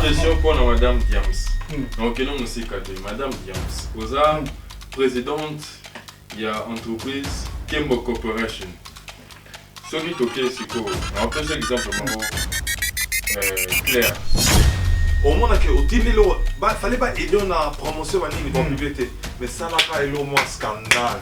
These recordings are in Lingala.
question mpo na madame diams hmm. na okende mosika te madame diams oza hmm. présidente ya entreprise kembo corporation soki tokei sikoyo naopesa exemple moko euh, claire omonake otindi eloko fale ba aide na promotion banini bapublie te mais salaka eloko mwa scandale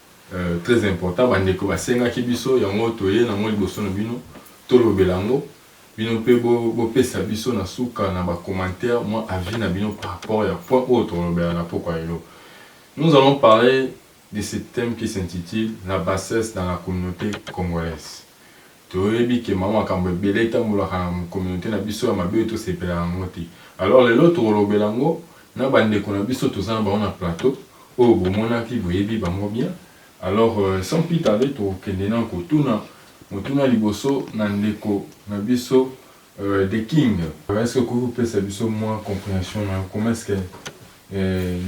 Très important ba ndeko ba sengaki biso yango toye nango liboso na bino tolobela yango bino mpe bo pesa biso na suka na ba commentaires mwa avis na bino par rapport ya point oyo tokolobela na pokwa lelo. Nous allons parler de ce thème qui s'intitule la bassesse dans la communaute congolaise Toyebi que mwa makambo ebele etambolaka na communaute na biso ya mabe oyo tosepelaka na yango te. Alors lelo tokolobela yango na ba ndeko na biso toza na bango na plateau oyo bomonaki, boyebi bango bien. Alors sans plus tarder tokokende na kotuna motuna ya liboso na ndeko na biso The King. Est ce que okoki kopesa biso mwa comprehension na yo comment est ce que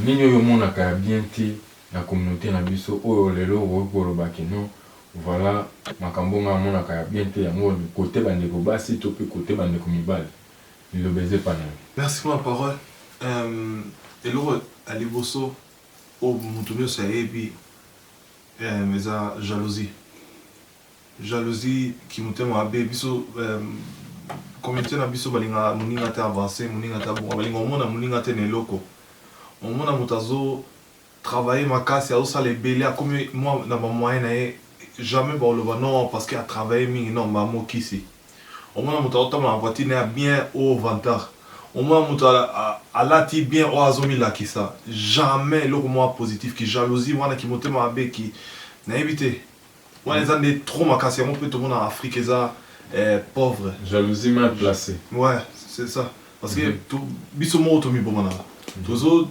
nini oyo omonaka ya bien te na communaute na biso oyo lelo okoki koloba que non Voilà makambo nga namonaka ya bien te yango cote ba ndeko basi to pe cote ba ndeko mibali liloba eza epa na yo. Merci pona parole euh eloko ya liboso oyo mutu nioso ayebi euh eza jalousie jalousie kimotema mabe biso communaute na biso balingaka muninga te avance muninga te abonga balingaka omona muninga te na eloko omona mutu azo travailler makasi azo sala ebele akomi mua na ba moyen na ye jamais bako loba non parce que a travailler mingi non ba mokisi omona mutu azo tambola na voiture naye ya bien oh vantard omona mutu a lati bien oh azo mi lakisa jamais eloko mua positif ki jalousie wana ki motema mabe ki na yebi te wana eza nde trop makasi yango mpe tomona afrique eza eh, pauvre jalousie mal placée ouais c'est ça parce que mm -hmm. biso moko tomibomanaka mhm. tozo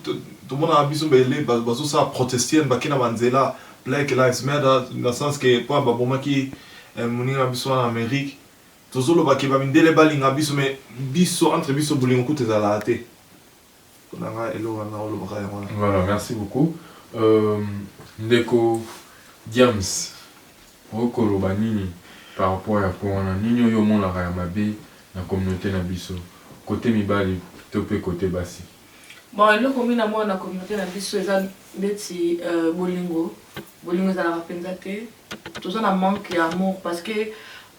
tomonaka biso bele bazosala protestienne bake na banzela black lives matter na sens ke mpo babomaki eh, moninga na biso wana amérique tozoloba ke bamindele balinga biso mais biso entre biso bolingo kutu ezalaka te Pona nga eloko wana olobaka yango wana. Voilà merci beaucoup euh, ndeko Diams okoki koloba nini par rapport ya point wana nini oyo omonaka ya mabe na communaute na biso cote mibali to pe cote basi. Bon eloko mina mona na communaute na biso eza neti euh, bolingo bolingo ezalaka penza te toza na manque ya amour parce que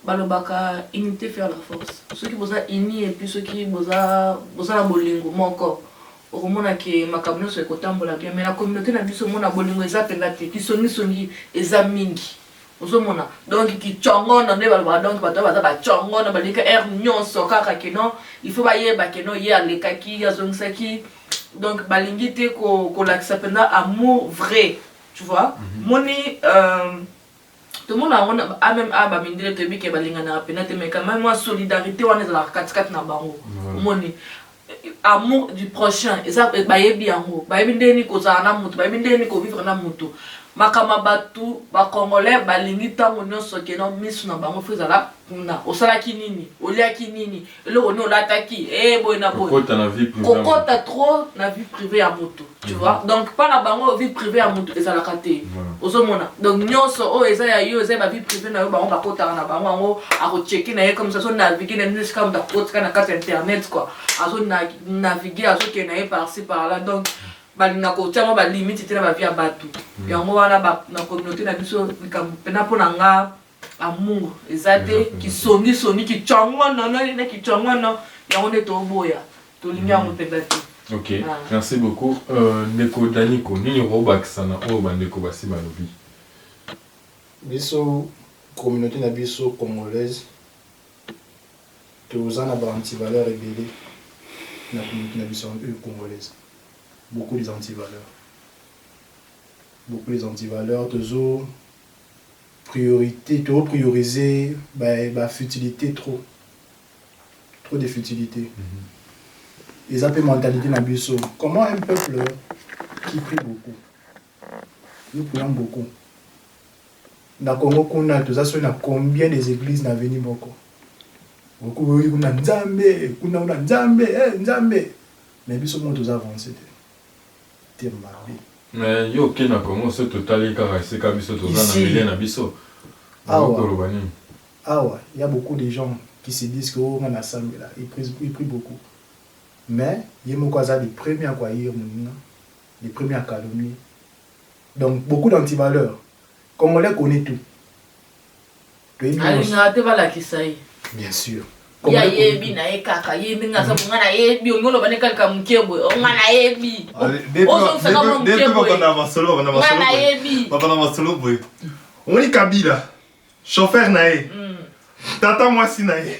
Balobaka unite faire la force soki boza unis et puis soki boza boza na bolingo moko okomona ke makambo nionso ekotambola bien mais na communaute na biso mona bolingo eza penza te kisongi songi eza mingi ozomona donc kicongono nde balobaka donc bato baza bacongono balingi aire nionso kaka keno il faut bayeba keno ye alekaki ye azongisaki donc balingi te kolakisa ko mpenza amour vrai tu vois mm -hmm. moni euh, Tomona yango na ba meme awa ba mindele toyebi ke balinganaka pena te mais quand meme mua solidarite wana ezalaka kati kati na bango omoni amour du prochain eza bayebi yango bayebi ndenge nini kozala na mutu bayebi ndenge nini ko vivre na mutu makambo ya batu ba congolais balingi tango nionso ke na misu na bango faut ezala kuna osalaki nini oliaki nini eloko nini olataki ee eh, boye na boye kokota trop na vie privée ya moto tu mhm. vois donc mpa na bango vie privée ya moto ezalaka te ozomona donc nyonso oyo eza ya yo eza ya ba vie privée na yo bango bakotaka na bango yango akocheke na ye comme ça azonavigue na nini esika moto akotika na kati ya internet quoi azonavigue azokende na ye parci par là donc balinga kotia ngo balimite te na bavie ya bato mhm. yango wana na communauté na biso likambo mpena mpo na nga Amour eza te, kisongi songi, kichongono, no nini kichongono, yango nde toboya, tolingi yango mm. mpenza te. Ok, ah. merci beaucoup. Euh, ndeko Daniko, nini okobakisa na oyo bandeko basi balobi? Biso communauté na biso congolaise toza na ba antivaleur ebele na communauté na biso euh, congolaise beaucoup des antivaleurs beaucoup des antivaleurs tozo Priorite to priorise ba futilite trop trop de futilite eza pe mentalite na biso comment un peuple qui prie beaucoup nous prions beaucoup na Congo kuna toza soki na combien des eglises na avenue moko okoki kuna nzambe kuna kuna nzambe eh nzambe mais biso moko toza avance te te mabe. Mais yo oke na Congo soki totali kaka esika biso toza na milieu na biso okoki koloba nini? Awa y'a beaucoup de gens qui se disent que oh nga na sambela il prie beaucoup mais ye moko aza le premier ya ko haïr muninga le premier ya calomnie donc beaucoup d'antivaleurs congolais connait tout. alingaka te balakisa ye bien sûr ye ayebi na ye kaka ye ndenge aza bonga na yebi olingi oloba nde kalika moke boye onga na yebi ozongisaka mwa moke boyenga na yebi babana masolo boye omoni kabila chauffeur na ye tata mwasi na ye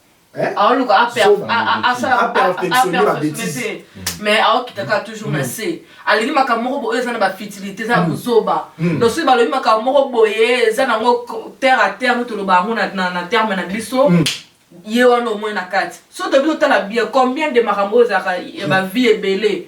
Hein? aoluka ah, aperfectionne ah, ah, babetise mais aokita kaka toujours na se hmm. alingi makambo moko boye eza na bafutilité eza ya kozoba hmm. hmm. donc soki balobi makambo moko boye eza nango terre a terre no toloba yango na terme na biso ye wana omoi na kati so tobi totala bien combien de makambo oyo ezalaka ya bavie ebele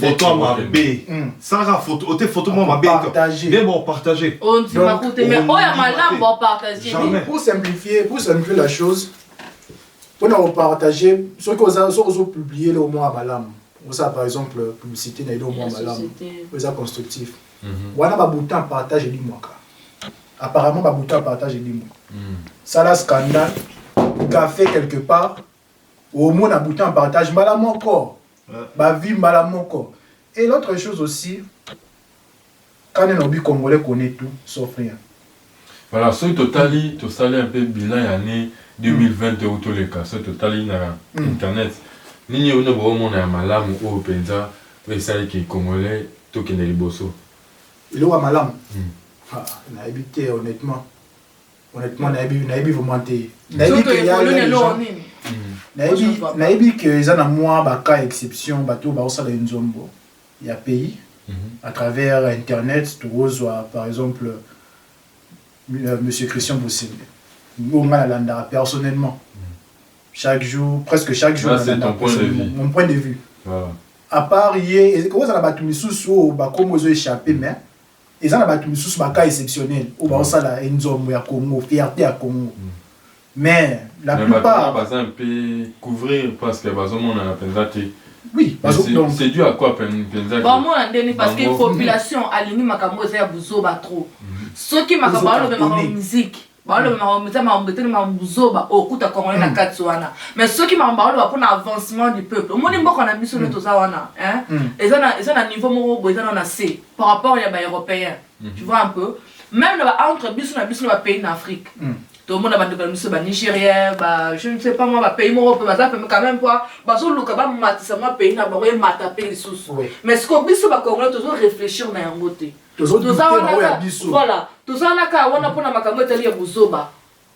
photo mabe hmm. salaka photo ote photo mwa mabe nde bopartage ondima kute mais oyo ya malamu bopartage pour simplifier pour simplifier la chose mpo na kopartage soki oza soki ozopublie eloko mwa ya malamu osala par exemple publicité na eloko mwa malamu oyo eza constructif mhm. wana babuta partage elimwaka apparemment babuta partage elimwa hmm. sala scandale café quelque part omona bouton partage mbala moko ba vie mbala moko et l'autre chose aussi kane na obi congolais connaît tout sauf rien Voilà, soki totali tosali un peu bilan ya année 2020 oyo toleka, soki totali na mm. internet nini oyo bino bokomona ya malamu oyo mpenza oyo esali ke congolais tokende liboso eloko ya malamu mm. ah, nayebi te honnêtement honnêtement nayebi nayebi vraiment te nayebi que ya nayebi nayebi que eza na mwa ba cas exception bato baosala enzombo ya pays mhm. à travers internet tokozwa par exemple euh, monsieur christian bosembe oyo ngai nalandaka personnellement mhm. chaque jour presque chaque jour mon point de vue à part ye ekozala bato misusu oyo bakombo ezo échappe mais Eza na batu misusu ba cas exceptionnel oyo bazo sala enzombo ya Congo, fierte ya Congo mais la plupart. Mais batu wana baza un peu couvrir parce que bazo monana penza te. Oui, bazo donc. C'est dû à quoi penza? Ba mona nde ni parce que population alingi makambo oyo eza ya buzoba trop. Soki makambo bazo loba makambo musique. baoloba makambo eza makambo etali makambo buzoba okuta congolais na kati wana mais soki makambo baoloba mpona avancement du peuple omoni mboka na biso nde toza wana eza na niveau moko boye eza na na se par rapport ya baeuropéen tu vois un peu même na ba entre biso na biso na bapays na afrique tomona bandeko na biso banigérien je ne sais pas mwa bapays moko mpe baza pembe quand même mpoa bazoluka bamatisa mwa pays na bango emata mpe lisusu mais sikoyo biso bacongolais tozo réfléchir na yango te toza wana kaka wana mpona makambo etali ya buzoba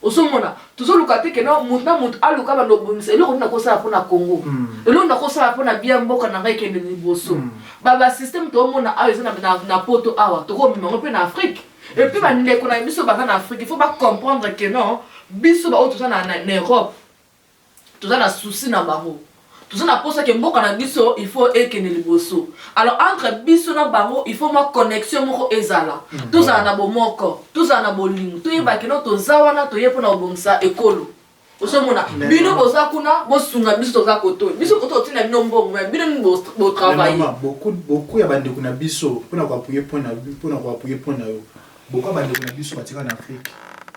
ozomona tozoluka te kena moto na moto aluka banda obongisa eloko nini akosala mpona congo hmm. eloko nini akosala mpona bia mboka na ngai ekende liboso hmm. babasysteme toomona awa eza na poto awa tokomema yango mpe na afrike epuis bandeko na biso baza na afrike il faut bacomprendre ke non biso baoyo toza na europe toza na souci na bango toza na posa ke mboka na biso il faut ekende liboso alors entre biso na bango il faut mwa connexion moko ezala mm. tozala na bomoko tozala na bolingo toyeba kino toza wana toye mpona kobongisa ekolo ozomona bino boza kuna bosunga biso toza koto biso koto otina bino mbongo me bino nini botravaille beaucoup ya bandeko na biso mpona koapuye mpona koapuye mpona yo Boka ba ndeko na biso ba tika na Afrique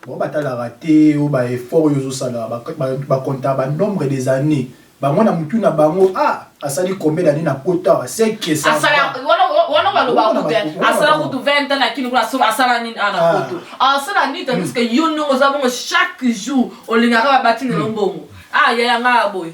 bango ba talaka te yo ba effort oyo ozo sala ba compta ba nombre des annees bango na mutu na bango ah asali combien d'annees na poto awa ce que ça asala wana wana ba loba ko te asala kutu 20 ans na kini kuna so asala nini ana poto asala nini tandis que yo ndongo za bongo chaque jour olingaka ba bati na mbongo ah yaya nga boye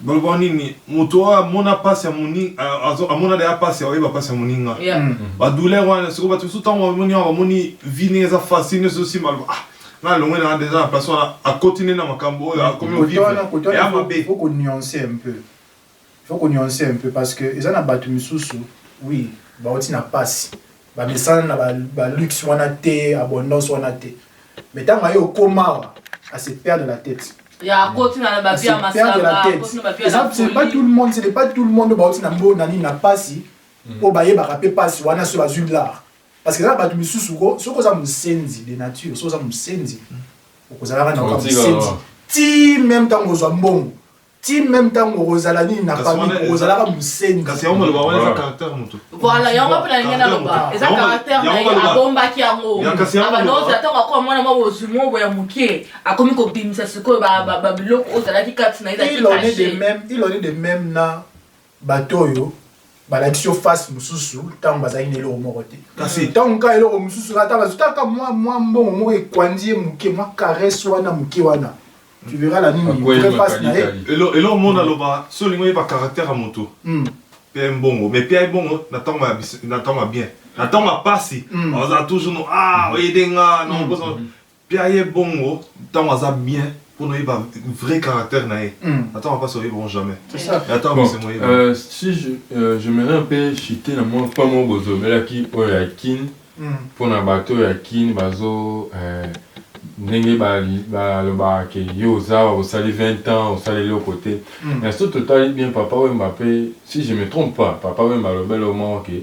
Boloba nini moto oyo amona pasi ya moninga amona deja pasi oyeba pasi ya moninga ba douleur wana sikoyo bato mosusu ntango bamoni awa bamoni vie ndenge eza facile nyonso ezosimba aloba ah nga alongwe na deja na place wana akoti nde na makambo oyo akomi ovivre ya mabe faut ko nuancer un peu faut ko nuancer un peu parce que eza na bato misusu oui bauti na pasi Ba mesana na ba luxe wana te, abondance wana te. Mais tango aye okoma awa, a se perdre la tete. Ya akoti na ba vie ya masanga, akoti na ba vie ya la folie. C'est pas tout le monde, c'est pas tout le monde bauti na mbo na nini na pasi, po bayebaka pe pasi wana soki bazui l'art. Parce que eza na batu misusu ko, soki oza musenzi de nature, soki oza musenzi, okozalaka na yo kaka musenzi. Ti meme tango ozua mbongo. ti meme ntango okozala nini na famille okozalaka mosenzi kasi yango maloba wana eza caractère moto voilà yango mpe nalingi naloba eza caractère na ye abombaki yango abandoza ah, ntango akoma mwana mwa bozwi moko ya moke akomi kobimisa sikoyo babiloko oyo ozalaki kati na ye ilone de même na Bato oyo balakisi yo face mosusu ntango bazalaki na eloko moko te, kasi ntango kaka eloko mosusu ata bazwi kaka mwa mwa mbongo moko ekwandi ye moke, mwa caresse wana moke wana, tu verras la nini vrai face na ye. Eloko moko naloba, soki olingi oyeba caractère ya moto, pia ye mbongo, mais pia ye mbongo na ntango ya bien, na ntango ya mpasi azala toujours no ah oyede nga, nabosana. Pia ye bongo tango aza bien pona oyeba vrai caractère na ye na tango ya pasi oyebi yango jamais mais na tango ya bisengo oyebi yango. Bon si j'aimerais un peu chuter na mua point moko bozobelaki oyo ya kin pona batu oyo ya kin bazo ndenge balobaka ke yo oza awa osali 20 ans osala eloko te mais soki totali bien papa wemba pe si je me trompe pas papa wemba alobela yo moko ke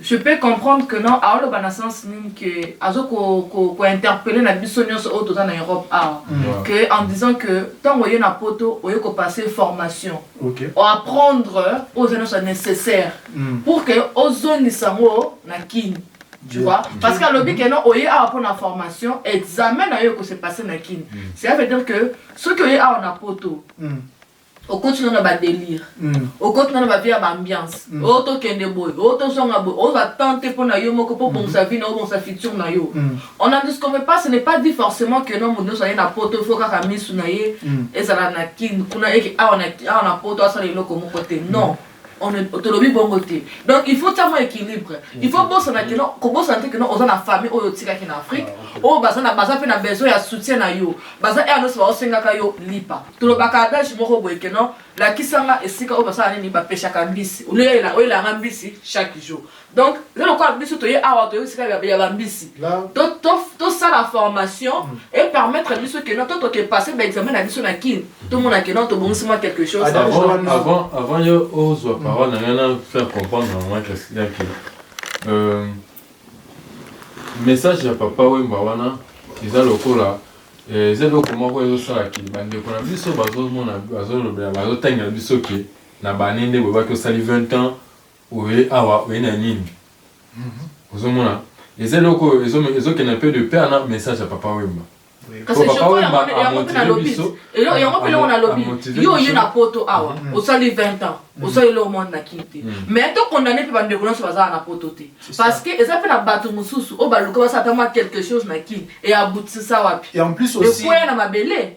Je peux comprendre que non aoloba na sens nini que azo ko ko ko interpeller na biso nionso oyo toza na Europe awa que en disant que tango oye na poto oye ko passer formation o apprendre oyo eza nionso necessaire pour que ozongisa yango na kin tu vois parce que alobi que non oye awa pona formation examen na yo eko se passer na kin cela veut dire que soki oye awa na poto okoti no na ba delire okoti no na ba vie ya ba ambiance oh tokende boye oh tozonga boye ozwa temps te mpo na yo moko mpo obongisa vie na yo obongisa futur na yo on n'en disconvient pas ce n'est pas dit forcement que non moto nyonso aye na poto il faut kaka misu na ye ezala na kin kuna eke awa na poto asala eloko moko te non tolobi bongo te donc il faut tia mwa équilibre il faut bosana keno kobosana te keno oza na famille oyo otikaki na afrique ah, oyo baza mpe na besoin ya soutien na yo baza ea nyonso baosengaka yo lipa tolobaka adage moko boye keno lakisanga esika oyo basala nini bapeshaka mbisi oyelanga mbisi chaque jour donc eza lokola biso toye awa toye esika ya bambisi tosala formation mm. e permettre biso ke non totoke passe baexamen na biso na kine tomona ke non tobongisi mwa quelque chose ah, avant yo ozwa mm. parole na ngai na faire comprendre na mwa kasida ke euh, message ya papa wemba wana eza lokola eh, eza eloko moko ezosala ke bandeko na biso bazomona bazolobela bazotangela biso ke na bane nde boyebaki osali 20 ans Oye awa oye na nini ozo mona eza eloko oyo ezo ezo kende un peu de paire na message ya papa Wemba. Kasi je crois yango pe yango pe na lobi yango pe eloko na lobi yo oye na poto awa mm. osali 20 ans mm. osali eloko mwana na kin te mm. mais to condamne pe bandeko nyonso bazala na poto te parce que eza pe na bato mosusu oyo baluka basala ata mwa quelque chose na kin e aboutisa wapi ekweya na mabele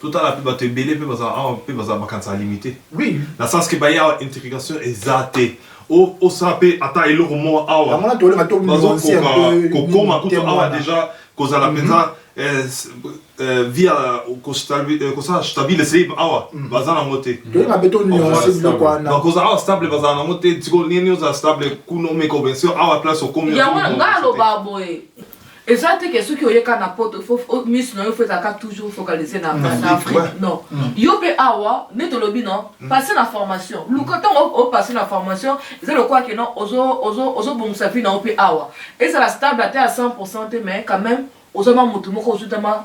Totala mpe bato ebele mpe bazala awa mpe bazala bakanisaka limite. Oui. Na sens que baye awa integration eza te. Osala mpe ata eloko moko awa. Bazokoka kokoma kutu awa deja kozala mpenza mhm. Eh, eh, via eh, kosala stabile sebe awa mm. baza nango te bakozala awa stable bazala nango te sikoyo nini ozala stable kuno meko bien sûr awa place okomi yango nga aloba boye Eza te ke soki oye ka na poto faut misu na yo faut ezala ka toujours focaliser na na Afrique non yo pe awa nde tolobi non passer na formation luka ntango o passer na formation eza lokola ke non ozo ozo ozo bongisa vie na yo pe awa ezala stable ata ya 100% te mais quand même oza mwa motu moko ozuta mwa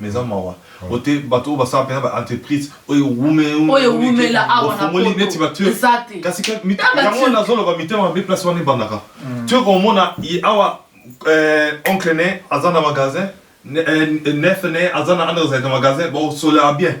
Mais eza mawa po te batu oyo basala penza ba entreprise oyo ewumela oyo ewumela awa na poto neti ba turc eza te kasi ke yango wana nazo loba mitema mabe place wana ebandaka tu oko mona awa oncle ne aza na magasin nef ne aza na magasin ba sola bien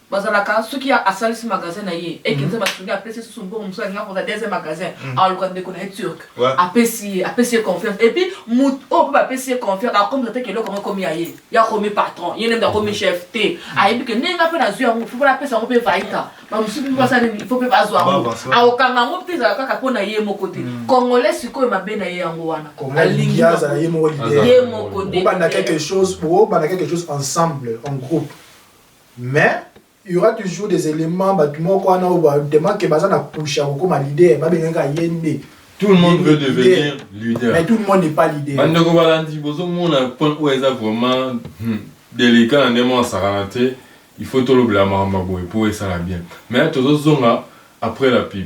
bazalaka soki ya asalisi magasin na ye ekenza mhm. basungi apesi ye susu mbongo mosusu alinga kozala deuxième magasin mhm. aluka ndeko na ye turc apesi ye apesi ye confiance epuis moto oyo oh, mpe bapesi ye confiance akomisa te keloko yango ekomi ya ye ye akomi patron ye nde akomi chef te mhm. ayebi ke ndenge nga mpe nazwi yango fo mpona apesa yango mpe vaita bamosusu mpe basala nini fo mpe bazwa yango akokanga yango mpe ezala kaka mpo na ye moko te congolais sikoyo mabe na ye yango wana alingi ye moko te obanda quelque chose ensemble en groupe Mais il y aura toujours des elements batu moko wana oyo ba tellement que baza na push ya kokoma leader ba bengaki ka yende Tout le monde veut devenir leader. Mais tout le monde n'est pas leader. Bandeko balandi bozo mona point oyo eza vraiment hmm, délicat na ndemo ya sakana te. Il faut tolobela makambo boye po esala bien. Mais tozo zonga après la pub.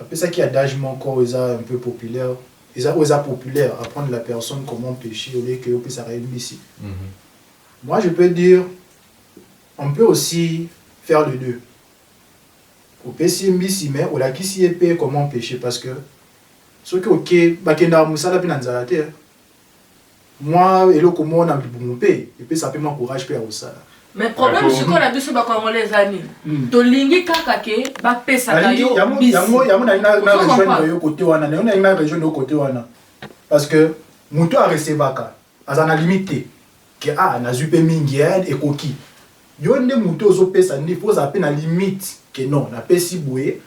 Apesaki adage moko oyo eza un peu populaire, eza oyo eza populaire, apprendre la personne comment pecher au lieu que yo opesaka ye mbisi. Moi je peux dire on peut aussi faire les deux, opesi ye mbisi mais olakisi ye pe comment pecher parce que soki oke, bakendaka musala pe na nzala te hein. mwa eloko moko na libumu mpe epesaka mpe mwa courage mpe ya kosala mais problème Ato- sikoyo na biso bakongolais eza nini Mm. tolingi kaka ke bapesaka Nalingi- yo yango- mbisi. yango yango nalingi na- na Ozo rejoindre comprendre? yo kote wana nayo nalingi na rejoindre yo kote wana parce que moto arecevaka aza na limite te ke a nazwi mpe mingi eh, ekoki yo nde moto ozopesa nde mpo ozala mpe na limite ke non napesi boye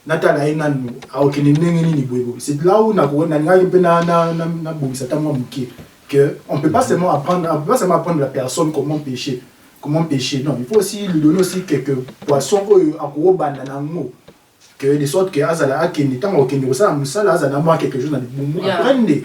Natala ye nanu akokende ndenge nini boye boye. C'est là où nako nalingaki mpe na na na nabongisa ata mwa moke que on peut pas seulement apprendre on peut pas seulement apprendre la personne comment pecher comment pecher non il faut aussi lui donner aussi quelques poissons oyo akobanda na yango que de sorte que azala akende ntango akokende kosala mosala azala na mwa quelque chose na libumu après nde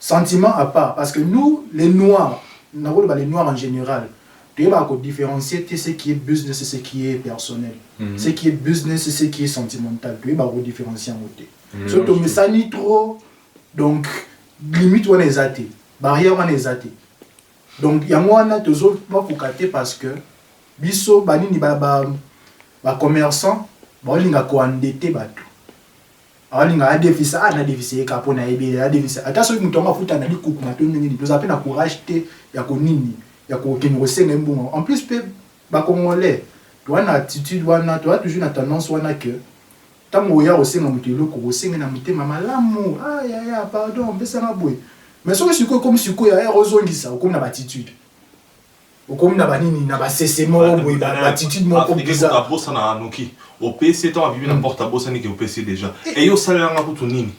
Sentiment à part parce que nous les noirs nako loba les noirs en general toyebaka ko differencier te ce qui est business et ce qui est personnel ce qui est business et ce qui est sentimental toyebaka ko differencier yango te soki tomesani trop donc limite wana eza te barrière wana eza te donc yango wana tozo bakoka te parce que biso banini ba ba ba commerçants baolinga ko endetter bato Alinga a defisa a na defisa ye kaka po na yebi ye a defisa ata soki mutu yango afuta na likukuma to ndenge nini tozala pe na courage te ya ko nini ya ko kende ko senga ye mbongo yango en plus pe ba congolais toza na attitude wana toza toujours na tendance wana que tangu oya ko senga mutu eloko ko senga ye na motema malamu ah yaya pardon pesa nga boye mais soki sikoyo ekomi sikoyo yaya ozo zongisa okomi na ba attitude Okomi na ba nini na ba sese moko boye ba attitude moko bizarre. Africain kutu abosana noki opesi ye tango abimi na porte abosani ke opesi ye dejà et yo osalela nga kutu nini?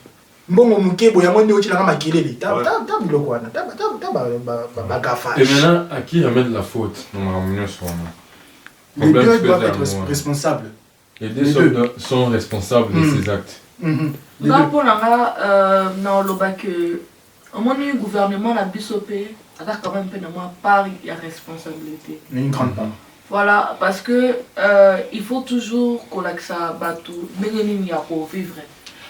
Mbongo muke boye yango nde otiela nga makelele ta ta biloko wana ta ba ta ba ba gaffage. Et maintenant à qui remettre la faute na makambo nionso wana? Les deux doivent etre responsables. Les deux sont, sont responsables mm. de ces actes. Mm -hmm. Nga mpo na nga euh, naoloba ke omoni gouvernement na biso mpe aza quand même mpe na mwa part ya responsabilité une grande part voilà parce que euh, il faut toujours kolakisa bato ndenge nini ya kovivre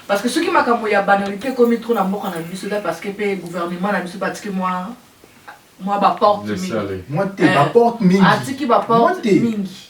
parce que soki makambo ya banalité ekomi trop na mboka na biso eza parce que mpe gouvernement na biso batiki mwa mwa baporte mingi mwa te baporte mingi atiki baporte mingi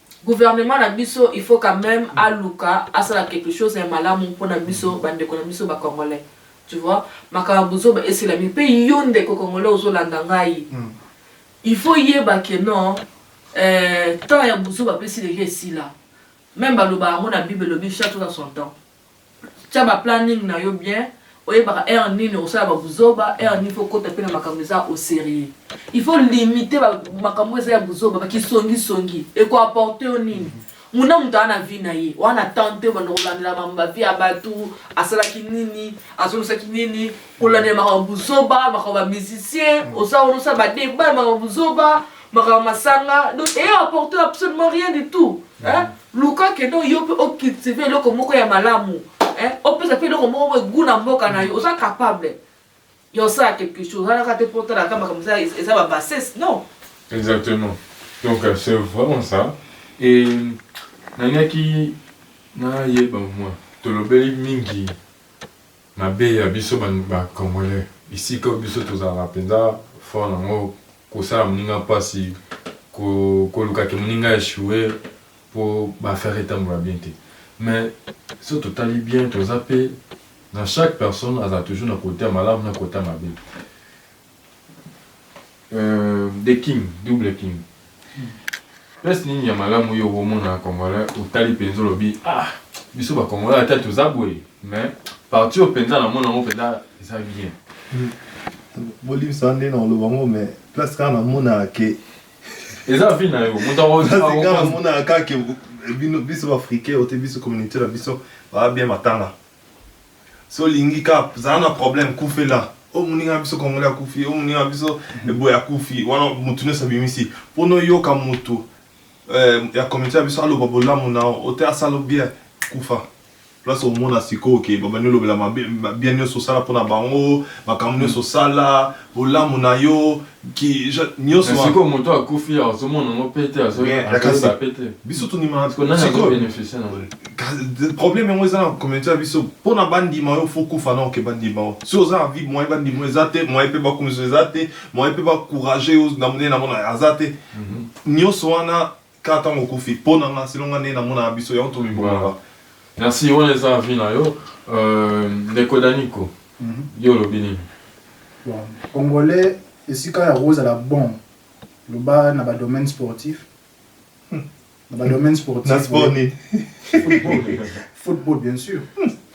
Gouvernement na biso il faut quand meme aluka asala quelque chose ya malamu mpo na biso bandeko na biso ba congolais tu vois makambo ya buzoba esila mingi mpe yo ndeko congolais ozolanda ngai mm. il faut yeba ke non euh, temps ya buzoba mpe esila esila meme baloba yango na bible elobi chaque chose à son temps Tia ba planning na yo bien oyebaka heure nini okosala ba buzoba heure nini faut okota pe na makambo eza au serieux il faut limiter ba makambo oyo eza ya buzoba ba kisongi songi eko apporter yo nini mutu na mutu aza na vie na ye oza na temps te obanda kolandela makambo ba vie ya batu asalaki nini azongisaki nini kolandela makambo buzoba makambo ba musicien oza wana osala ba debat makambo buzoba makambo masanga donc eye apporter absolument rien du tout hein Luka kende yo pe o cultiver eloko moko ya malamu hein, opesa pe eloko moko boye gout na mboka na yo, oza capable ya osala quelque chose, oza naka te po otala kaka makambo eza eza ba bassesse non. Exactement donc c'est vraiment ça et nalingaki nayeba mua tolobeli mingi Mabe ya biso ba congolais bisika oyo biso tozalaka penza fort na ngo kosala muninga pasi koluka ke muninga a echoue po ba affaire etambola bien te mais soki totali bien toza pe na chaque personne azala toujours na cote ya malamu na cote ya mabe Euh, the king, double king. Place nini ya malamu yo omona congolais otali penza olobi ah biso ba congolais ata toza boye mais parti oyo penza na mona yango penza eza bien. Bolimisa nde na oloba ngo mais place kaka namonaka ke eza vie na yo moto akomonaka kaka ke bino biso ba africain ote biso communauté na biso ba bien matanga. So lingi ka zala na problème kufela oyo moninga na biso congolais akufi oyo moninga na biso eboye akufi wana mutu nyonso abimisi pona oyoka mutu eh, ya communauté na biso aloba bolamu na yo ote asala bien kufa place omona sikoyo ke babandi olobela mabe ma- bien nyonso osala pona bango makambo nyonso osala bolamu na yo sikoyo moto akufi azomona yango pete azoyeba pete biso tondima problème yango eza na communauté ya biso mpona bandima yo fo kufa na oke bandima yo soki oza na vie moyen bandima yo eza te moyen mpe bakumisa eza te moyen mpe bacourage yo na monene na mona aza te nyonso wana Kaka tango okufi po na nga selon nga ndenge na monaka biso yango tomibomaka. Merci wana eza avis na yo ndeko Danico yo olobi nini? Bon congolais esika ya kozala bon loba na ba domaine sportif na ba domaine sportif na sport nini? Football bien sur.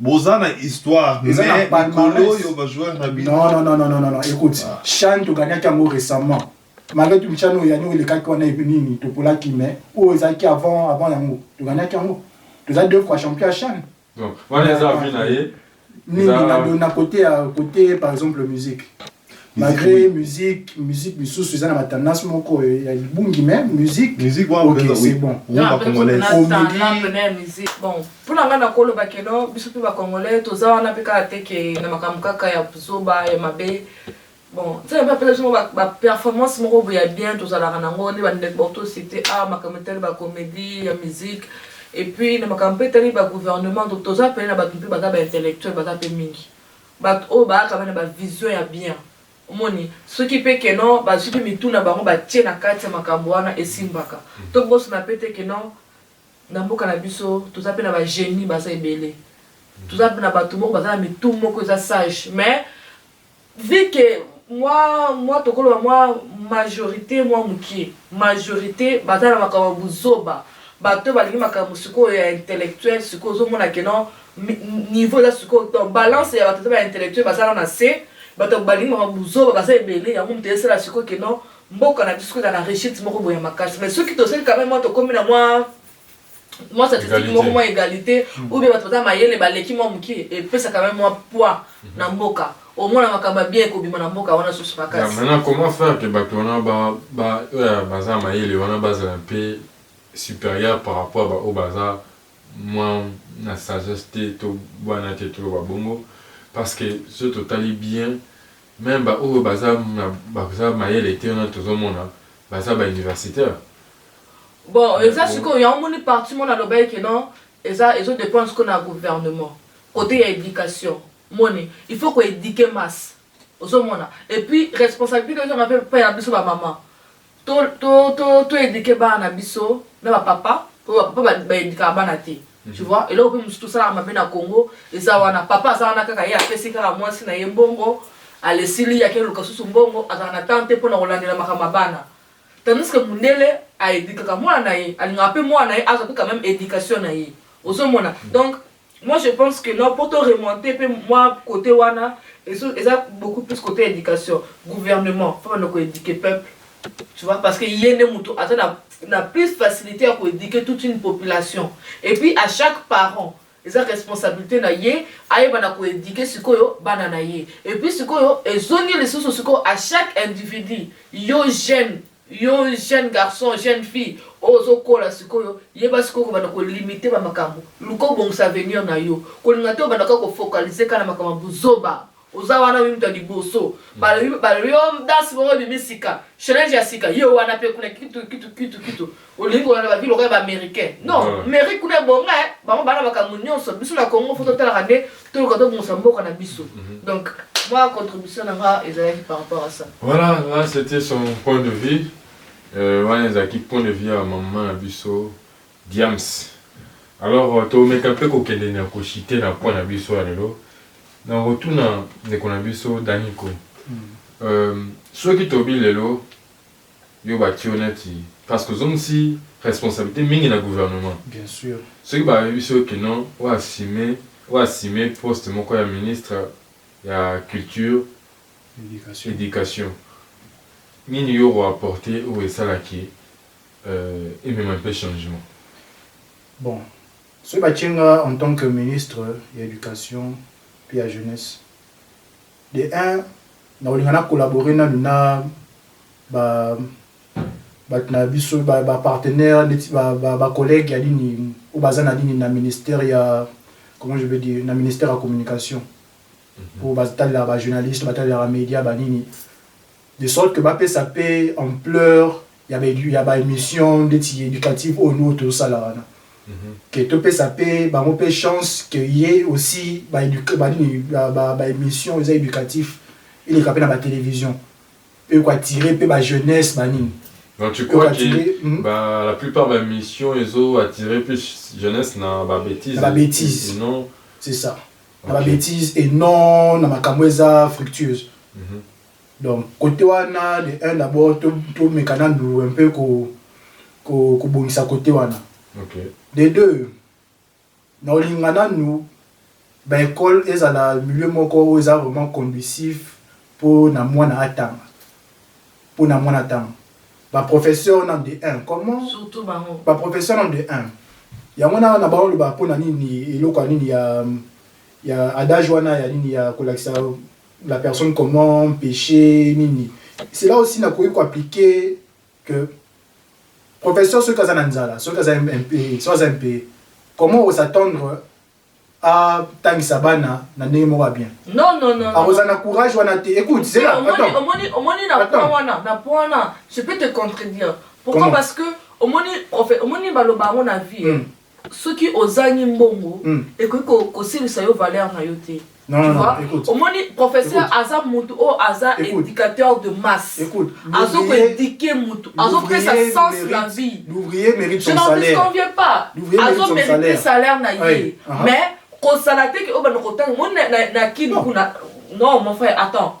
Boza na histoire mais mikolo oyo ba joueurs na bino. Non non non non non écoute, ah. Chan to gagnaki yango récemment. Malgré tout Chan oyo yango elekaki wana epi nini to polaki mais oyo ezalaki avant avant yango to gagnaki yango. Toza deux fois champion ya Chan. Donc wana eza vie na ye. Nini na na côté ya côté par exemple musique. malgré musique musique misusu eza na ba tendance moko ya libungi mais musique musique wana okay, c'est bon rumba congolaise comédie bon mpona ngai nakoloba keno biso mpe bacongolais toza wana mpe kaka te ke na makambo kaka ya zoba ya mabe bon nzela mpe apesa biso baperformance moko boye ya bien tozalaka nango nde bandeko bato cité a ah, makambo etali bacomédie ya musique epuis na makambo mpe etali bagouvernement toza pene na bato mpe baza baintellectuel baza mpe mingi Batu oyo bayaka pe na ba vision ya bien omoni soki pe que non bazui pe mitu na bango ba tie na kati ya makambu wana esimbaka. To bosana pe te que non na mboka na biso toza pe na ba genies baza ebele toza na batu moko baza na mitu moko eza sage mais vu que mwa mwa toko loba mwa majorite mwa mukie majorite baza na makambu ya buzoba batu oyo balingi makambu sikoyo ya intellectuel sikoyo ozo mona que non niveau eza sikoyo donc balance ya bato to ba intellectuel bazala na se bato balingi mama buzoba baza ebele yango moto esala sikoyo ke non mboka na biso eza na rechite moko boya makasi mais soki tosali quand même mwa tokomi na mwa mwa statistique moko mwa égalité hmm. ou bien bato baza mayele baleki mwa moke epesa quand même mwa poids na hmm. mboka omona makambo ya bien ekobima na mboka wana susu makasi maintenant comment faire que bato wana oyo baza mayele wana bazala mpe supérieur par rapport baoyo baza mwa na sagesse te to bwana te toloba bongo parce que soki totali bien meme ba oyo baza na baza mayele te wana tozomona baza ba universitaires Bon, mais eza bon sikoyo yango omoni partie moko nalobaki que non eza ezo dependre sikoyo na gouvernement cote ya education omoni il faut ko eduquer masse ozomona et puis responsabilite ezonga pe epai na biso ba maman To to to to eduquer bana na biso na ba papa po ba papa ba eduquer bana te. Mhm. Tu vois eloko pe mususu tosala mabe na Congo eza wana papa aza wana kaka ye apesi kaka mwasi na ye mbongo alesili yake luka susu mbongo azala na temps te pona kolandela makambo ya bana. Tandis que mundele a eduquer ka mwana na ye alingaka pe mwana na ye azwa pe quand même education na ye. Ozomona mhm. donc Moi je pense que non po to remonter pe mwa cote wana ezo eza beaucoup plus cote ya education gouvernement faut banda ko eduquer peuple tu vois parce que ye nde mutu aza na na plus facilité ya ko eduquer toute une population et puis à chaque parent eza responsabilité na ye ayeba na ko eduquer sikoyo bana na ye et puis sikoyo ezongi lisusu sikoyo à chaque individu yo jeune Yo jeune garçon, jeune fille oyo ozo kola sikoyo yeba sikoyo kobanda ko limiter ba makambo, luka obongisa avenir na yo, kolinga te obanda kaka ko focaliser kaka na makambo ya buzoba, oza wana yo mutu ya liboso, ba yo dance moko ebimi sika, challenge ya sika yo wana pe kuna kitu kitu kitu kitu. olingi kolanda ba vie lokola ba américain non ah. mairie kuna ebonga eh. bango bana makambo nyonso biso na congo fo totalaka nde toluka tobongisa mboka na biso mhm. donc moi contribution na nga ezalaki par rapport à ça voilà là c'était son point de vue euh, wana euh, ezalaki point de vue ya mama na biso diams alors euh, tomeka mpe kokende na koshite na point na biso ya lelo na kotuna ndeko na biso daniko mm. euh, soki tobi lelo yo ba kio neti parceque ozongisi responsabilite mingi na gouvernement soki ba yebisi yo que non o assume o assume poste moko ya ministre ya culture education nini yo oko apporte oyo esala que emema un peu changement? Bon soki ba tie nga en tant que ministre ya education pe ya jeunesse. De un nakolinga na collaborer nanu na ba batu na biso ba ba partenaires neti ba ba collègues ya nini oyo baza na nini na ministère ya comment je veux dire na ministère ya communication oyo batalelaka ba journalistes batalelaka media ba nini de sorte que bapesa pe ampleur ya ba emission ndeti educative oyo nous tozo sala wana que to pesa pe bango pe chance que ye aussi ba eduque ba nini ba emission eza educatif eleka pe na ba television pe ko attirer pe ba jeunesse ba nini Donc tu crois que hmm? bah, la plupart des missions ils ont attiré plus jeunesse dans la bêtise. Dans la bêtise. Non. C'est ça. Dans okay. la bêtise et non dans ma camouesa fructueuse. Mm -hmm. Donc cote wana de un d'abord to to meka nanu un peu ko ko ko bongisa cote wana. OK. De deux na olinga nanu ba ecole ezala milieu moko oyo eza vraiment conducif po na mwana atanga. Po na mwana atanga. Ba professeur nanu de un comment. Surtout bango. Ba professeur nanu de un. Yango na na bao loba po na nini eloko ya nini ya ya adage wana ya nini ya kolakisa la personne comment peche nini c'est là aussi na koki ko appliquer que professeur soki aza na nzala soki aza MP soki aza MP comment o s'attendre atangisa bana na ndenge moko ya bien non non non akozala na courage wana te écoute c'est là attends omoni omoni na point wana na point wana je peux te contredire pourquoi parce que omoni profe omoni baloba yango na vie hmm. soki ozangi mbongo mm. ekoki kosilisa yo valeur na yo te omoni professeur aza mutu oyo aza éducateur de masse azo koéduke mutu azopesa sens na vie je n'en disconviens pas azo mérite salaire na ye mais kozala te ke oyo banda kotanga moni na kini kuna non mon frère attends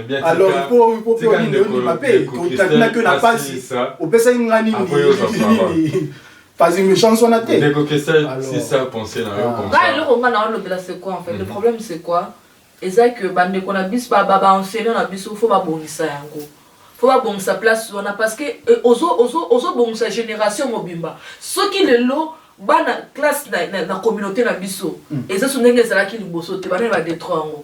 alors il faut il faut pe onini onini mabe otatuna que na pasi opesaki nga nini nini pasi méchance wana te ndeko kesa si ça penser na yo ah. comme ça ngai eloko nga na olobela c'est quoi en fait le mhm. problème c'est quoi eza que bandeko na biso ba ba enseignant na biso faut babongisa yango faut babongisa place wana parce que eh, ozo ozo ozo bongisa génération mobimba soki lelo bana classe na, na, na communauté na biso mm. eza so ndenge ezalaki liboso te bana ba detro yango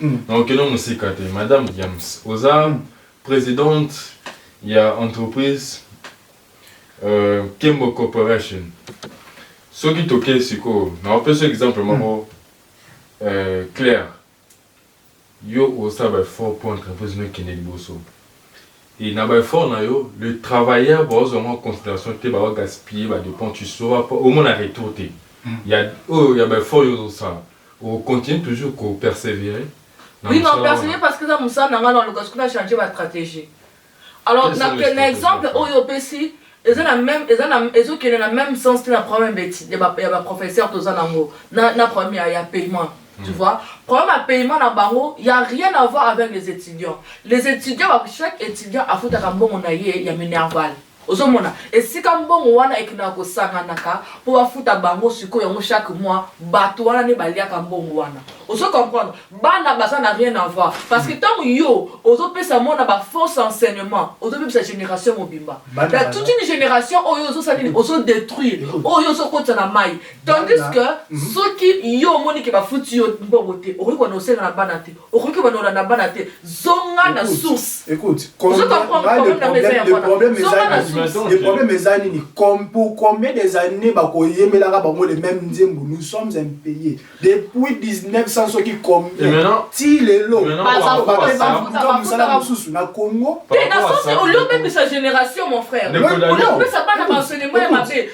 Na okende mosika te madame Diams oza presidente ya entreprise Kembo Corporation soki toke sikoyo na opesa exemple moko claire yo osala ba effort po entreprise no ekende liboso et na ba effort na yo le travailleur ba ozua yango na consideration te ba gaspiller ba depenses tu sauras pas omona retour te ya oyo ya ba effort yo ozo sala O continuer toujours ko perseverer na Oui na mosala persevere wana. parce que eza mosala na nga na luka soki na changer ba strategie alors Quelles na sont les ke na strategies exemple à faire? oyo opesi eza na meme eza na ezo kende na meme sens te na problème ya ba eti- ya ba ya ba professeur toza na yango na na problème ya ya paiement tu vois problème ya paiement na bango ya rien à voir avec les étudiants les étudiants ba chaque étudiant afutaka mbongo na ye ya minerval Ozo mona esika mbongo wana ekendaka ko sanganaka po ba futa bango sikoyo yango chaque mois batu wana nde ba liaka mbongo wana ozo comprendre bana baza na rien avoir parce que tango yo ozo pesa mona ba fausse enseignement ozo bebisa generation mobimba la toute une generation oyo ozo sala nini ozo detruire oyo ozo kotisa na mayi tandis que soki yo omoni ke ba futi yo mbongo te okoki ko na osenga na bana te okoki kobanda kolanda bana te zonga na source le problème eza nini pour combien des années bakoyemelaka bango le même nzembo nous sommes un pays depuis 1900 soki combien ti lelo bapebaluka mosala mosusu na congo te na sens olio bebisa génération mon frère olio kopesa bana baenseignement ya mabe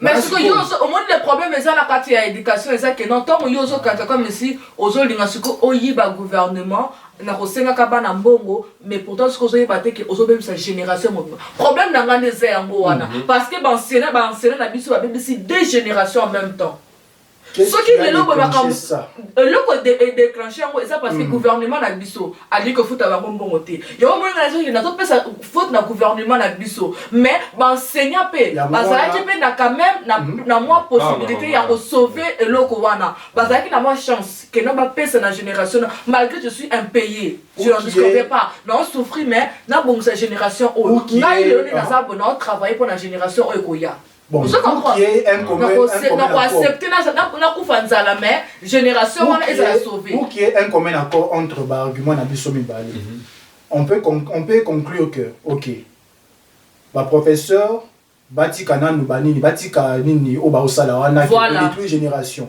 mais siko yo omoni le problème eza na kati ya éducation eza ke non ntango yo ozokata comme si ozolinga siko oyiba gouvernement na kosengaka bana mbongo mais pourtant siko ozoyeba te ke ozobebisa génération mobima problème na ngai nde eza yango wana mhm. parce que baensena baensena na biso babebisi deux génération en même temps soki lelo boye makambo eloko edeclenche yango eza parce que mm. gouvernement na biso alingi kofuta bango mbongo te yango moni ngai nazoki nazopesa faute na gouvernement na biso mais baenseignant mpe bazalaki mpe na quand même na mm. mwa possibilité ya kosauve eloko wana bazalaki na mwa chance keno bapesa na génération malgré je suis impayé je ne discordais pas nao souffrir mais nabongisa génération oyo ngai lelo nde naza bo nao travaille mpo na génération oyo ekoya Bon, je comprends. Qui est un commun, donc, un commun donc, accepter na kufa nzala mais génération wana ezala sauver. Ou qui est un commun accord entre ba arguments na biso mibale. Mm -hmm. On peut on peut conclure que OK. Ba professeur batika nanu banini batika nini oyo baosala wana voilà. détruire génération.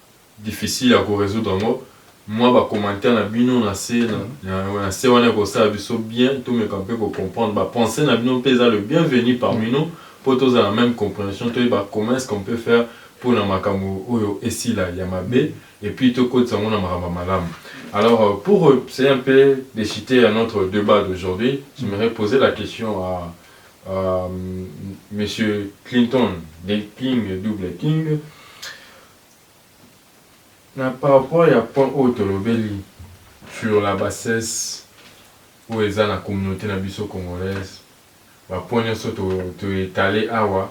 difficile ya ko resoudre yango mua ba commentaires na bino na se na se wana eko sala biso bien to meka mpe ko comprendre ba pensees na bino mpe eza le bien venu parmi nous mpo to zala na meme comprehension to yeba comment est-ce qu'on peut faire mpo na makambo oyo esila ya mabe et puis to kotisa yango na makambo ya malamu. Alors pour c'est un peu dechite ya notre debat d'aujourd'hui j'aimerais poser la question à à monsieur Clinton le king double king Na par rapport ya point oyo tolobeli sur la bassesse oyo eza na communaute na biso congolaise, ba points nionso to etaler awa,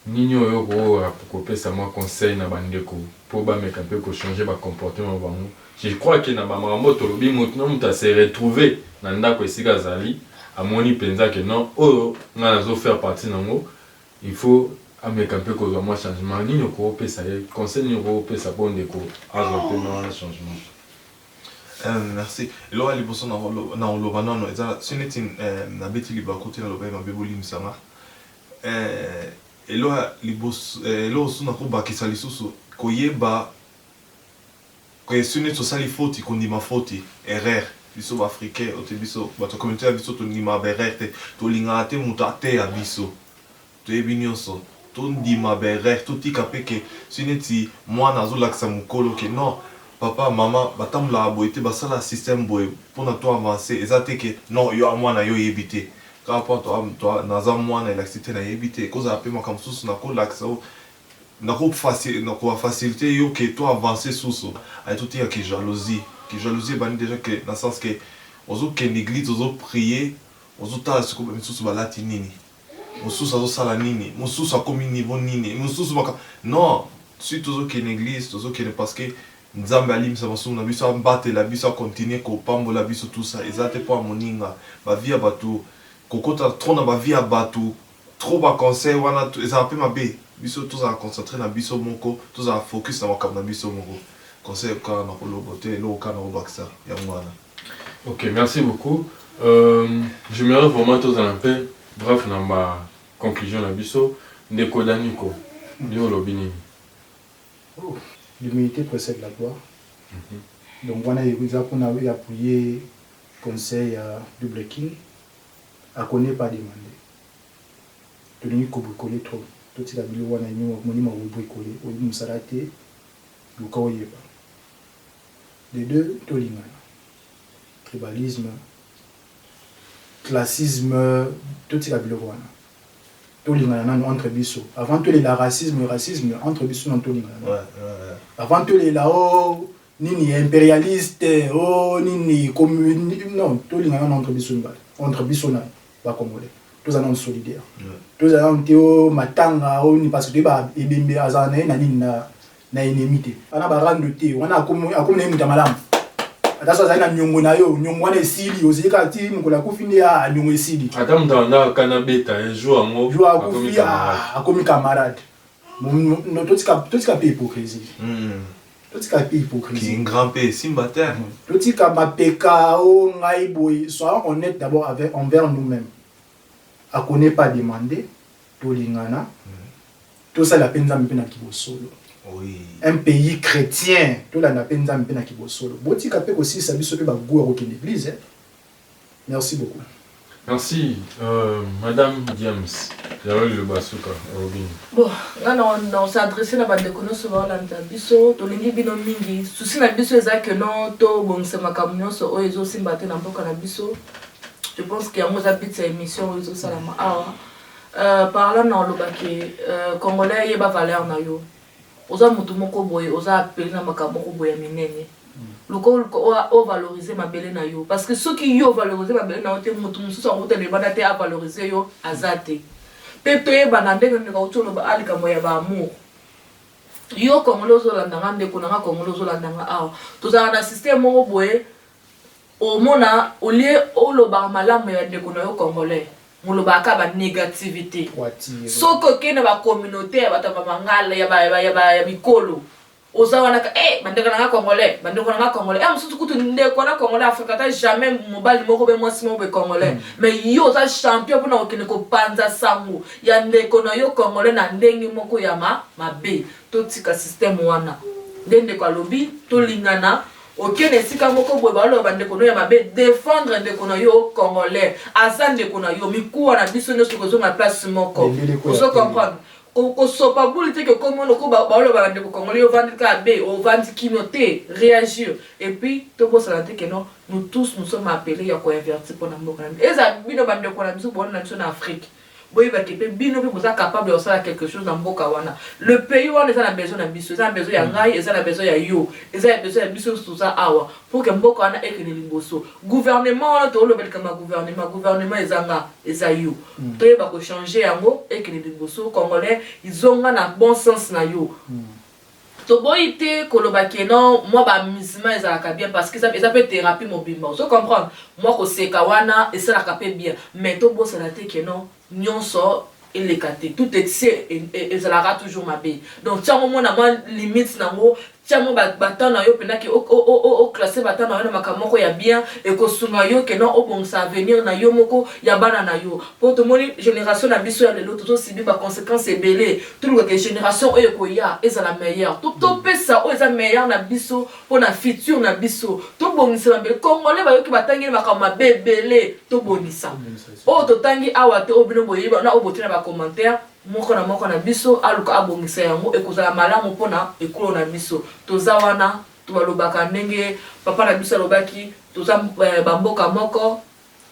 nini oyo okokoka kopesa mwa conseil na ba ndeko po bameka pe ko changer ba comportement na bango? Je crois que na ba makambo oyo tolobi, mutu na mutu a se retrouver na ndaku esika azali, amoni penza que non, oyo ngai nazo faire partie na yango Il faut ameka mpe kozwa mwa changement. Nini okopesa ye? Conseil nini okopesa mpo ndeko azwa mpe mwa changement? Eeh merci eloko ya liboso nakoloba nanu eza soki neti nabeti libaku te naloba ye mabe bolimisa nga eeh eloko ya liboso eloko susu nakobakisa lisusu koyeba que soki neti osali foti kondima foti erreur biso ba africain ote biso batu ya communaute na biso tondimaka ba erreur te tolingaka te mutu ateya biso toyebi nionso tondima ba erreur totika pe que soki neti muana azolakisa mukolo que non papa maman batambolaka boye te basala système boye pona to avance eza te que non yo muana yo oyebi te kaka pona naza muana elakisi te nayebi te ekozala pe makambo mosusu nakolakisa yo Nako faciliter yo que to avancer susu aye to tika ki jalousie. Ki jalousie ebandi dejà que na sens que ozo kende eglise ozo prier ozo tala sikoyo ba misusu ba lati nini? Mususu azo sala nini? Mususu akomi niveau nini? Mususu makambo non si tozo kende na eglise tozo kende parce que Nzambe alimbisa masumu na biso abatela biso a continuer ko pambola biso tout ça eza te po ya moninga ba vie ya batu kokota trop na ba vie ya batu Trop ba conseils wana ezalaka pe mabe biso tozala concentre na biso moko tozala focus na makambo na biso moko conseil kaka na ko lobo te eloko kaka na ko bakisa yango wana. Ok merci beaucoup j'aimerais vraiment tozala un peu bref na ba conclusion na biso ndeko Danico yo olobi nini? L'humilite precede la gloire donc wana eza pona ya appuyer conseil ya double king. A ko ne pas demander tolingi ko bricoler trop totika biloko wana yemoko omoni ma ko bricoler oyebi musala te luka oyeba de deux tolingana tribalisme classisme totika biloko wana tolingana nanu entre biso avant tolela racisme racisme entre biso nanu tolingana avant tolela oh nini imperialiste oh nini commune non tolingana na entre biso mibale entre biso na ba congolais toza nanu solidaire toza nanu te o matanga o nini parce que toyeba ebembe azala na ye na nini na na ennemi te wana barando te wana akomi akomi na ye moto ya malamu ata so azali na nyongo na yo nyongo wana esili ozeli kaka ti mokolo akufi nde a nyongo esili ata moto abandaka kana beta ye jour yango jour akufi akomi camarade totika mpe hypocrisie totika mpe hypocrisie grand mpe esimba te totika mapeka o ngai boye soyons honnête d'abord avec envers nous-mêmes ako n'est pas demandé tolingana tosala mpe nzambe mpe na kibosolo oui. un pays chrétien tolanda mpe nzambe mpe na kibosolo botika mpe kosilisa biso mpe bagout ya kokende église eh? Merci beaucoup. Merci madame Diams yaba liloba suka olobi nini? Bon nga na na se adresser na ba ndeko nionso ba landa biso tolingi bino mingi souci na biso eza que non to bongisa makambo nionso oyo ezo simba te na mboka na biso je pense que yango eza but ya emission oyo ezo salama awa euh, parlant na oloba que euh, congolais yeba valeur na yo Oza mutu moko boye oza appele na makambo moko boye ya minene luka oluka o valoriser mabele na yo parce que soki yo o valoriser mabele na yo te mutu mususu akouta libanda te a valoriser yo aza te pe toyebana ndenge ndeko auti oloba a likambo ya ba amour yo congolais ozolanda nga ndeko na nga congolais ozolanda nga awa tozalaka na système moko boye Omona au lieu olobaka malamu ya ndeko na yo congolais, molobaka kaka ba negativite. Soki oke na ba communaute ya bato ya ba mangala, ya ba, ya ba, ya mikolo, oza wana kaka, eh! Bandeko na nga congolais, bandeko na nga congolais. Heure mosusu kutu ndeko na congolais afukaka ata jamais mobali moko oubien mwasi moko boye congolais. Mais yo oza champion pona kokende kopanza sango ya ndeko na yo congolais na ndenge moko ya ma, mabe. Totika système wana. Nde ndeko alobi, tolingana. Okende esika moko boye baloba bandeko no ya mabe, defendre ndeko na yo congolais, aza ndeko na yo, mikuwa na biso nyonso kozonga place moko, ozo comprendre kosopa bule te kokomi wana okoba baoloba bandeko congolais ovandi kaka be ovandi kino te réagir et puis tobosana te keno nous tous nous sommes appelés ya koinverti mpo na mboka na biso eza bino bandeko na biso bowana na biso na afrique Boyeba ke pe bino pe boza capable ya kosala quelque chose na mboka wana. Le pays wana eza na besoin na biso, eza na besoin ya ngai, eza na besoin ya yo, eza ya besoin ya biso nionso toza awa pour que mboka wana ekende liboso. Gouvernement wana toloba likambo ya gouvernement, gouvernement eza nga, eza yo. Toyeba ko changer yango ekende liboso, congolais zonga na bon sens na yo. Toboyi te koloba que non mua ba amusement ezalaka bien parce que eza pe therapie mobimba ozo comprendre? Mua koseka wana esalaka pe bien mais tobosana te que non nionso eleka te tout excès ezalaka toujours mabe donc tia yango omona mua limite nango tia mua ba temps nayo pena que o classer ba temps nayo na makambo moko ya bien ekosunga yo que non obongisa avenir nayo moko ya bana nayo po tomoni generation na biso ya lelo tozo subir ba consequences ebele Toluka ke generation oyo ekoya ezala meilleur. To topesa oyo eza meilleur na biso mpo na futur na biso. Tobongisa ba mbeli. Congolais bayoki batangeli makambo mabe ebele. Tobongisa. Oyo totangi awa te oyo bino boyebi ba na oyo botie na ba commentaires moko na moko na biso aluka abongisa yango ekozala malamu mpo na ekolo na biso. Toza wana tobalobaka ndenge papa na biso alobaki toza ba mboka moko.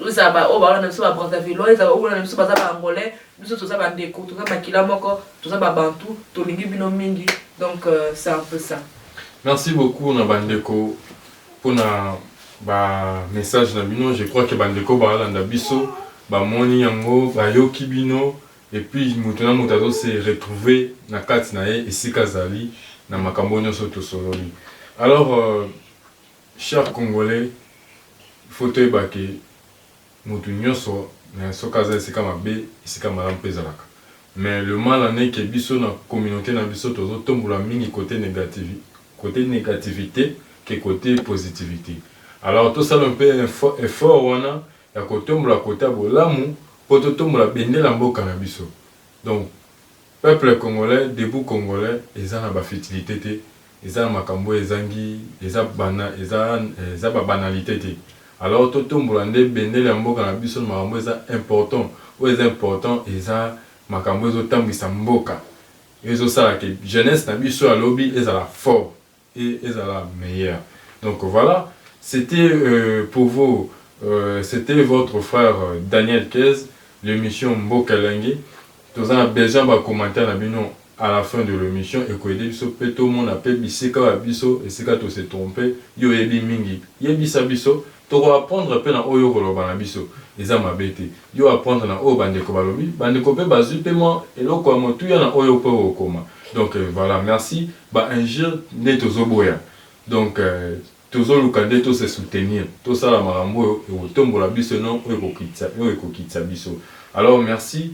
Eza ba oyo balona biso ba Brazzavillois, eza ba oyo balona biso baza ba Angolais, biso toza ba ndeko, toza makila moko, toza ba Bantou, tolingi bino mingi, donc c'est un peu ça. Merci beaucoup na ba ndeko pona ba messages na bino, je crois que ba ndeko balanda biso bamoni yango, bayoki bino et puis moto na moto azo se retrouver na kati na ye esika azali na makambo nionso tosololi alors. Chers congolais il faut toyeba ke mutu nionso mais soki aza esika mabe esika malamu pe ezalaka mais le mal en est ke biso na communaute na biso tozo tombola mingi cote negative cote negativite ke cote positivite alors tosala un peu effort wana ya kotombola cote ya bolamu po totombola bendela mboka na biso donc Peuple congolais debout congolais eza na ba futilite te eza na makambo oyo ezangi eza bana eza eza ba banalite te alors to tombola nde bendele ya mboka na biso na makambo eza important oyo eza important eza makambo ezo tambwisa mboka ezo sala ke jeunesse na biso ya lobi ezala fort et ezala meilleur donc voila c'etait pour vous c'etait votre frère Daniel Kez l'emission mboka elengi toza na besoin ba commentaires na bino à la fin de l'emission eko aider biso pe tomona pe bisika ya biso esika to se tromper yo oyebi mingi yebisa biso Toko apprendre pe na oyo oko loba na biso eza mabe te. Yo apprendre na oyo ba ndeko ba lobi, ba ndeko pe ba zui pe mwa eloko ya motuya na oyo pe oko koma. Donc voilà merci. Ba injures nde tozo boya. Donc tozo luka nde to se soutenir. To sala makambo oyo eko tombola biso et non oyo eko kitisa, oyo eko kitisa biso. Alors merci